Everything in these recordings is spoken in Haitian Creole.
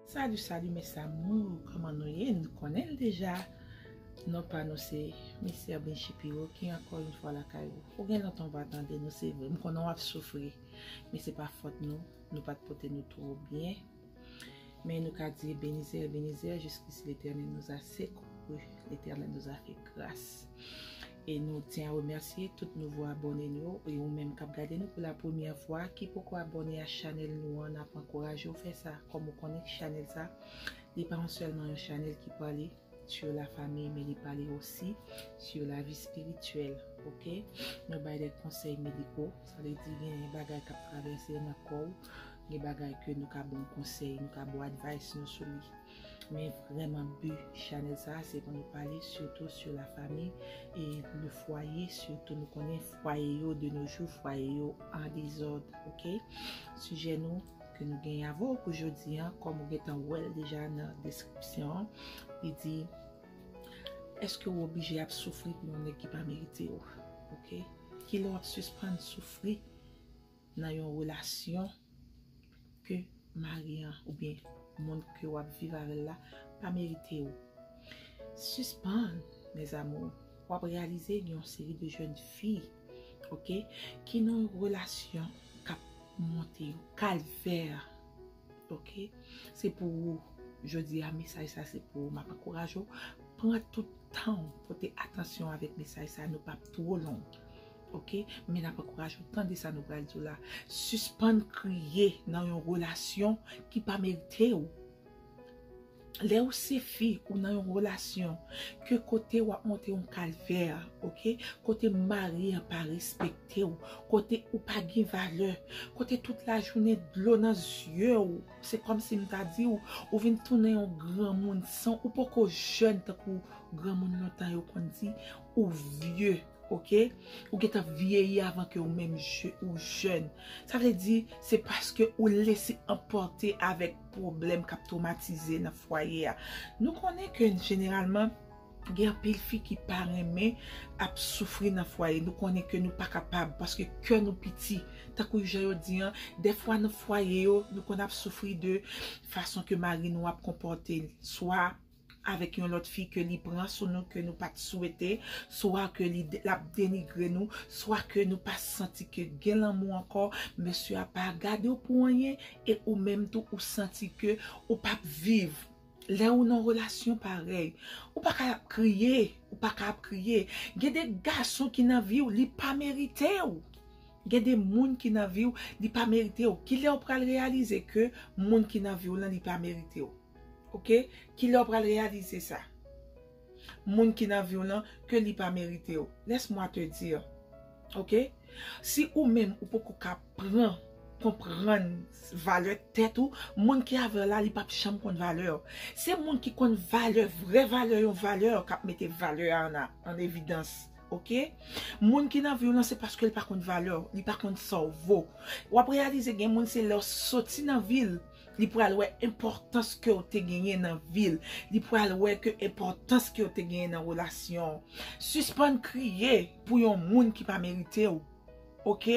Salut salut mes amours kòman nou ye nou konnen l deja non pa nou se Mister Binchy Piro ki ankò yon fwa lakay ou ou gen lontan ou pa tande nou se vre m konnen w ap soufri men se pa fòt nou nou pat pote nou twò byen men nou ka di benize Ebenezer jiskisi Letènèl nou a sekou Letènèl nou a fè gras. E nou tyen a remèsye tout nouvo abòne nou yo e ou menm kap gade nou pou la premyè fwa ki poko abòne a chanèl nou an nap ankouraje w fè sa kòm ou konnen chanèl sa li pa an sèlman yon chanèl ki pale sur la famille men li pale osi sur la vie spirituelle ok nou bay des conseils médicaux sa vle di gen bagay kap travèse nan kò w gen bagay ke nou ka ba w konsèy nou ka ba w advice nou sou li. Men vrèman bu chanèl sa se pou nou pale sitou su la fami e le fwaye sitou nou konnen fwaye yo de no jou fwaye yo an dezòd ok sijè nou ke nou gen avè w pou jodi an kòm ou gentan wè l deja nan deskripsyon an li di eske ou oblije ap soufri pou yon nèg ki pa merite w ok kilè w ap sispann soufri nan yon relasyon ke mari an oubyen moun ke wap viv avèl la pa merite ou sispann mes amours wap reyalize gen yon seri de jèn fi ok ki nan yon relasyon kap monte yo kalvè. Ok se pou ou jodi a mesaj sa se pou ou map ankouraje ou pran tout tan ou pote atansyon avèk mesaj sa nou pap two long ok men nap ankouraje ou tande sa nou pral di w la sispann kriye nan yon relasyon ki pa merite ou. Lè ou se fi ou nan yon relasyon ke kote wap monte yon kalvè ok kote mari an pa respekte ou kote ou pa gen valè kote tout la jounen dlo nan zye ou se kòmsi m ta di ou ou vin tounen yon granmoun san ou poko jèn tankou granmoun lontan yo konn di ou vye. Ok ou gentan vyeyi avan ke ou menm ou jèn sa vle di se paske ou lese anpòte avèk pwoblèm kap twomatize nan fwaye a nou konnen ke jeneralman gen anpil fi ki pa renmen ap soufri nan fwaye nou konnen ke nou pa kapab paske kè nou piti tankou jan yo di an dèfwa nan fwaye yo nou konn ap soufri de fason ke mari nou ap konpòte swa avèk yon lòt fi ke li pran sou nou ke nou pat swete, swa ke li lap denigre nou, swa ke nou pa santi ke gen lanmou ankò, mesye a pa gadew pou anyen e ou menm tou ou santi ke ou pap viv. Lè ou nan relasyon parèy, ou pa ka ap kriye, ou pa ka ap kriye. Gen de gason ki nan viw li pa meritew. Gen de moun ki nan viw li pa meritew. Kilè ou pral reyalize ke moun ki nan viw lan li pa meritew? Ok kilè ou pral reyalize sa moun ki nan viw lan ke li pa meritew laisse moi te dire ok si ou menm ou poko ka pran konprann valè tèt ou moun ki avèw la li pap janm konn valèw se moun ki konn valè vrè valè yon valè kap mete valè a an evidans ok moun ki nan viw lan se paskel pa konn valèw li pa konn sa ou vo wap reyalize gen moun se lèw soti nan vil ou Li pral wè enpòtans ke w te genyen nan vi l. Li pral wè ke enpòtans ke w te genyen nan relasyon w. Sispann kriye pou yon moun ki pa merite w. Ok?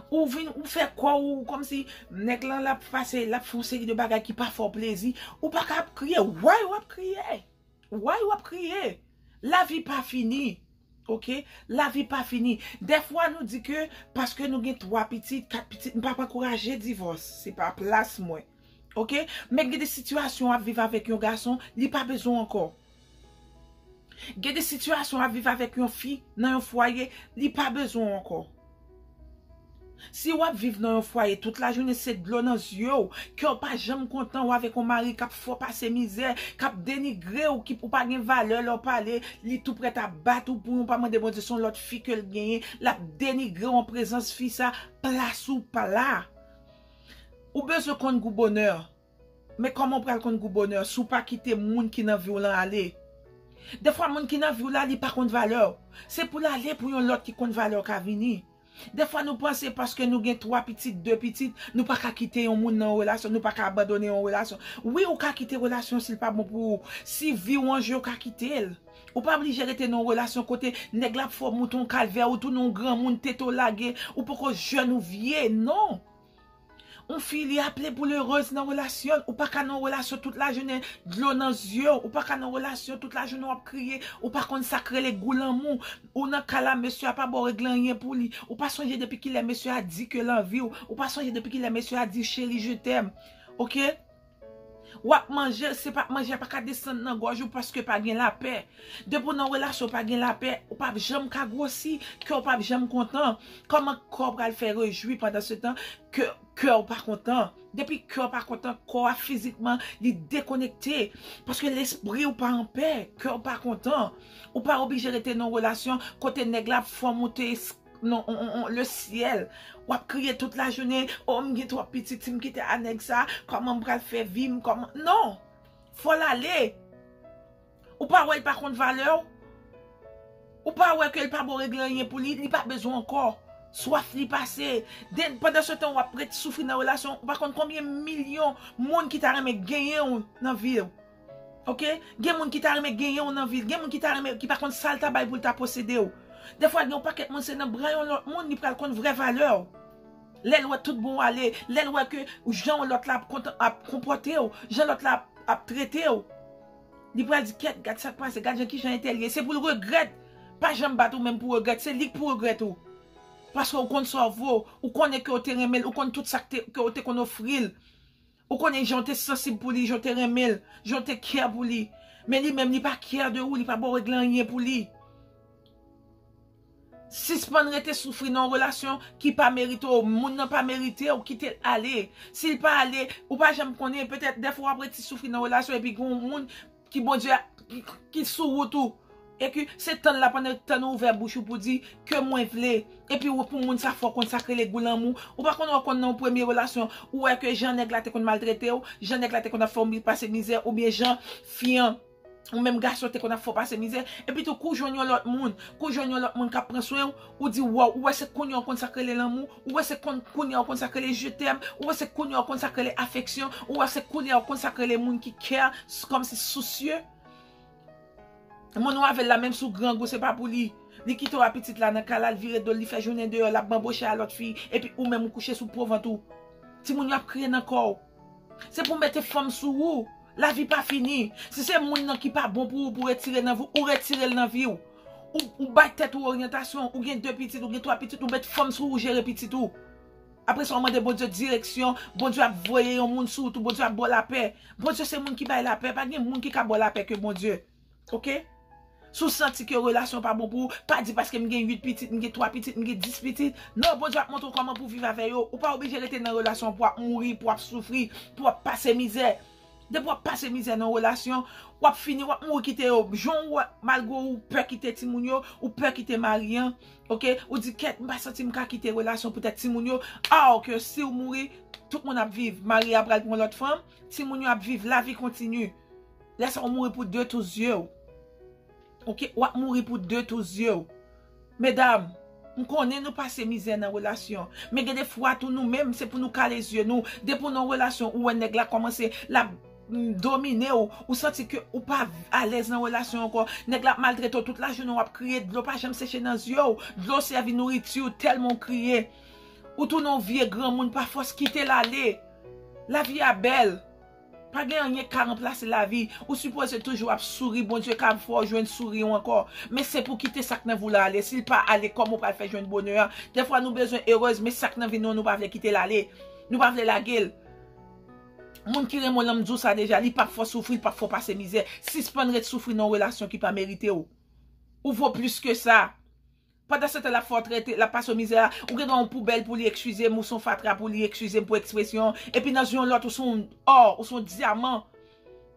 Ou vin, ou fè kò w kòm si nèg lan l ap pase, l ap fè yon seri de bagay ki pa fè w plezi. Ou pa ka ap kriye. Why w ap kriye? Why w ap kriye? Lavi pa fini. Ok lavi pa fini dèfwa nou di ke paske nou gen 3 pitit 4 pitit m pap ankouraje divòs se pa plas mwen ok men gen de sitiyasyon wap viv avèk yon gason li pa bezwen w ankò gen de sitiyasyon wap viv avèk yon fi nan yon fwaye li pa bezwen w ankò. Si wap viv nan yon fwaye tout lajounen se dlo nan zye w, kè w pa janm kontan, ou avèk yon mari kap fè w pase mizè, kap denigre w, ou pa gen valè lè w pale, li tou prèt ap bat ou pou yon pa mande Bondye se yon lòt fi ke l genyen, lap denigre w an prezans fi sa, plas ou pa la. Ou bezwen konn gou bonè. Men kòman ou pral konn gou bonè si w pa kite moun ki nan vi w lan ale? Dèfwa moun ki nan vi w la li pa konn valè w. Se pou l ale pou yon lòt ki konn valè w ka vini. Dèfwa nou panse paske nou gen 3 pitit, 2 pitit, nou pa ka kite yon moun nan yon relasyon, nou pa ka abandone yon relasyon. Wi ou ka kite relasyon si l pa bon pou ou. Si vi w an je ou ka kite l. Ou pa blije rete nan yon relasyon kote nèg la ap fè w monte yon kalvè, ou tounen yon granmoun, tete w lage, ou poko jèn ou vye, non! Yon fi li aple poul erez nan relasyon l, ou paka nan yon relasyon tout la jounen dlo nan zye w, ou paka nan yon relasyon tout la jounen wap kriye, ou pa konn sak rele gou lanmou, ou nan ka la mesye a pa baw regle anyen pou li, ou pa sonje depi kilè mesye a di ke l anvi w, ou pa sonje depi kilè mesye a di w cheri je t'aime ok. Wap manjel se pa manje a paka desann nan gòj ou paske pa gen lapè. Depi w nan yon relasyon pa gen lapè, ou pap janm ka gwosi, kè w pap janm kontan. Kòman kò w pral fè rejwi pandan se tan ke kè w pa kontan. Depi kè w pa kontan, kò a fizikman li dekonekte. Paske lespri w pa anpè, kè w pa kontan. Ou pa oblije rete nan yon relasyon kote nèg la ap fè w moute. non le ciel wap kriye tout la jounen oh m gen trop pitit si m kite a nèg sa koman m pral fè vi m koman non fò l ale ou pa wè l pa konn valè w ou pa wè ke l pa bon regle anyen pou li li pa bezwen w ankò swaf li pase den pandan se tan wap ret soufri nan relasyon ou pa konn konbyen milyon moun ki ta renmen genyen w nan vi w. Ok gen moun ki ta renmen genyenw nan vil gen moun ki ta renmen ki pa konn sal ta bay poul ta posedew defwa gen yon pakèt moun se nan bra yon lòt moun li pral konn vrè valèw lèl wè tout bon w ale lèl wè ke jan lòt la ap kontan ap konpòtew jan lòt la ap tretew li pral di kèt gad sak pase gad jan kijan entèl ye se poul regrèt pa janm bat ou menm pou regrèt se lik pou regrèt ou paske ou konn sa w vo ou konnen ke ou te renmenl ou konn tout sak te ke ou te konn ofril. Ou konnen jan w te sansib pou li, jan w te renmen l, jan w te care pou li. Men li menm li pa care de ou, li pa ba w regle anyen pou li. Sispann rete soufri nan yon relasyon ki pa merite w, moun nan pa merite w, kite l ale. Si l pa ale, ou pa janm konnen, petèt dèfwa w ap rete soufri nan relasyon epi gen yon moun Ki Bondye a ki sou wout ou. E ki se tann la pandan tann ou ouvè bouch ou pou di ke mwen vle. E pi ou pou moun sa fò konn sa k rele gou lanmou. Ou pa konn ou konn nan yon premye relasyon ou wè ke jan nèg la te konn maltrete ou, jan nèg la te konn ap fè ou pase mizè ou byen jan fi an ou menm gason te konn ap fè ou pase mizè. E pi tou kou jwenn yon lòt moun, kou jwenn yon lòt moun k ap pran swen ou, ou di waw, ou wè se kounye ou konn sa k rele lanmou. Ou wè se konn kounya ou konn sak rele je t'aime, ou wè se kounya ou konn sak rele afeksyon, ou wè se kounya ou konn sak rele moun ki care, kòmsi sousyeu. Moun ou avèl la menm si ou grangou se pa pou li. Li kite w a pitit la nan kay la, l vire do l, li fè jounen deyò, l ap banboche a lòt fi, epi ou menm ou kouche sou po vant ou. Timoun yo ap kriye nan kò w. Se pou mete fanm sou ou. Lavi pa fini. Si se moun nan ki pa bon pou ou pou retire nan vi w, ou retire l nan vi w. Ou bay tèt ou oryantasyon. Ou gen 2 pitit, ou gen 3 pitit, ou met fanm sou ou jere pitit ou. Apre sa ou mande Bondye direksyon. Bondye ap voye yon moun sou ou tou. Bondye ap ba w lapè. Bondye se moun ki bay lapè. Pa gen moun ki ka ba w lapè ke Bondye. Ok Si w santi ke relasyon pa bon pou ou, pa di paske m gen 8 pitit, m gen 3 pitit, m gen 10 pitit. Non, Bondye ap montre w kòman pou w viv avè yo. Ou pa oblije rete nan relasyon pou w ap mouri, pou w ap soufri, pou w ap pase mizè. Depi w ap pase mizè nan yon relasyon, w ap fini, w ap mouri kite yo. Jan w wè, malgre ou pè kite timoun yo, ou pè kite mari an, ok, ou di kèt m pa santi m ka kite relasyon poutèt timoun yo, aw ke si w mouri, tout moun ap viv. Mari a pral pran lòt fanm, timoun yo ap viv, lavi kontini. Lè sa ou mouri pou de tou zye ou. Ok, wap mouri pou de tou zye ou. Medam, m konnen nou pase mizè nan relasyon. Men gen de fwa tou nou menm se pou nou kale zye nou. Depi ou nan relasyon ou wè nèg la kòmanse lap domine ou. Ou santi ke ou pa alèz nan relasyon ankò. Nèg la ap maltrete ou tout lajounen wap kriye dlo pa janm seche nan zye ou. Dlo sèvi nouriti ou tèlman ou kriye. Ou tounen yon vye granmoun pa fòs kitel ale. Lavi a bèl. Pa gen anyen ki ka ranplase lavi, ou sipoze toujou ap souri, Bondye ka ap fè w jwenn souri w ankò, men se pou w kite sak nan vi w la ale, si l pa ale kòman w pral fè jwenn bonè a, dèfwa nou bezwen erez men sak nan vi nou an nou pa vle kite l ale, nou pa vle lage l, moun ki renmen w lan m di w sa deja li pap fè w soufri, li pap fè w pase mizè, sispann ret soufri nan yon relasyon ki pa merite w, ou vo plis ke sa. Pandan se tan lap fè w trète, lap pase w mizè a, ou gen dwa yon poubèl pou li ekskize m, ou son fatra pou li ekskize m pou ekspresyon an, epi nan zye yon lòt ou son ò, ou son dyaman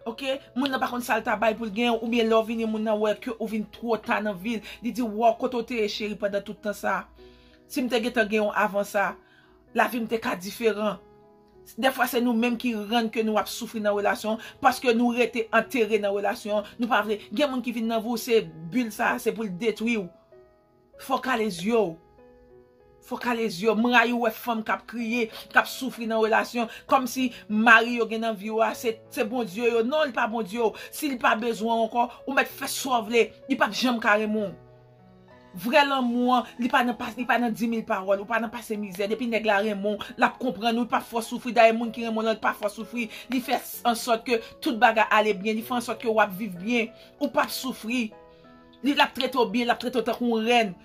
ok, moun nan pa konn sal ta bay poul genyen w, oubyen lè w vini moun nan wè ke ou vin twò ta nan vil, li di waw kote w te ye cheri pandan tout tan sa, si m te gentan gen w avan sa, lavi m te ka diferan. Dèfwa se nou menm ki rann ke nou ap soufri nan relasyon paske nou rete antere nan relasyon nou pa vle gen moun ki vin nan vi w se bul sa se pou l detwi w fò w kale zye w fò w kale zye w m rayi w wè fanm kap kriye kap soufri nan relasyon kòmsi mari yo gen nan vi w a se se bondye yo non li pa bondye w si li pa bezwen w ankò ou mèt fè sa w vle li pap janm ka renmen w. Vrè lanmou an, li pa nan pas, li pa nan dimil pawòl, ou pa nan pase mizè, depi nèg la renmen w, lap konprann ou, li pap fè w soufri, dayè moun ki renmen w lan li pa fè w soufri, li fè ansòt ke tout bagay ale byen, li fè ansòt ke wap viv byen, ou pap soufri, li lap trete w byen, lap trete w tankou yon rèn,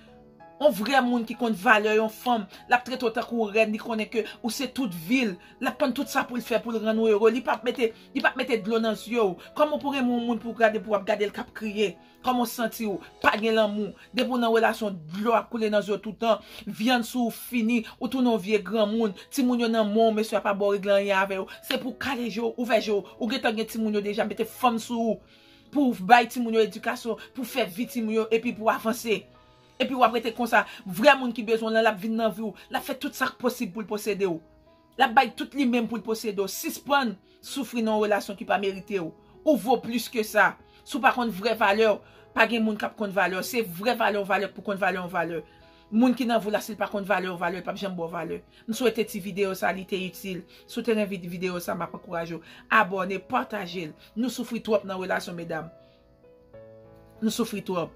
yon vrè moun ki konn valè yon fanm, lap trete w tankou yon rèn, li konnen ke ou se tout vi l, lap konn tout sa poul fè poul rann ou ere, li pap mete, li pap mete dlo nan zye w, kòman w pou renmen yon moun pou gade pou wap gade l kap kriye, Kòman w santi w? Pa gen lanmou. Depi w nan relasyon dlo ap koule nan je w toutan, vyann sou w fini, ou tounen yon vye granmoun, timoun yo nan men w, mesye a pa ba w regle anyen avè yo, se pou w kale je w, ouvè je w, ou gentan gen timoun yo deja, mete fanm sou ou pou w bay timoun yo edikasyon, pou w fè vi timoun yo epi pou w avanse. Epi w ap rete konsa, vrè moun ki bezwen w lan l ap vin nan vi w, l ap fè tout sa k posib pou l posede w. Lap bay tout li menm poul posede w sispann soufri nan yon relasyon ki pa merite w ou vo plis ke sa si w pa konn vrè valè w pa gen moun kap konn valè w se vrè valè yon valè pou konn valè yon valè moun ki nan vi w la si l pa konn valè yon valè l pap janm ba w valè m swete ti video sa li te itil si w te renvin video sa map ankouraje w abòne pataje l nou soufri twòp nan relasyon medam. Nou soufri trop.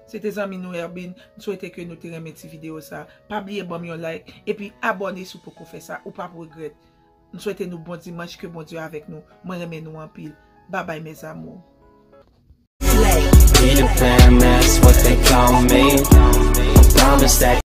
Se te zanmi nou Erbin, m swete ke nou te renmen ti video sa. Pa bliye banm yon like, epi abone si w poko fè sa, ou pap regrèt. M swete nou bon dimanch, ke Bondye avèk nou. Mwen renmen nou anpil. Babay mes amours. Slay!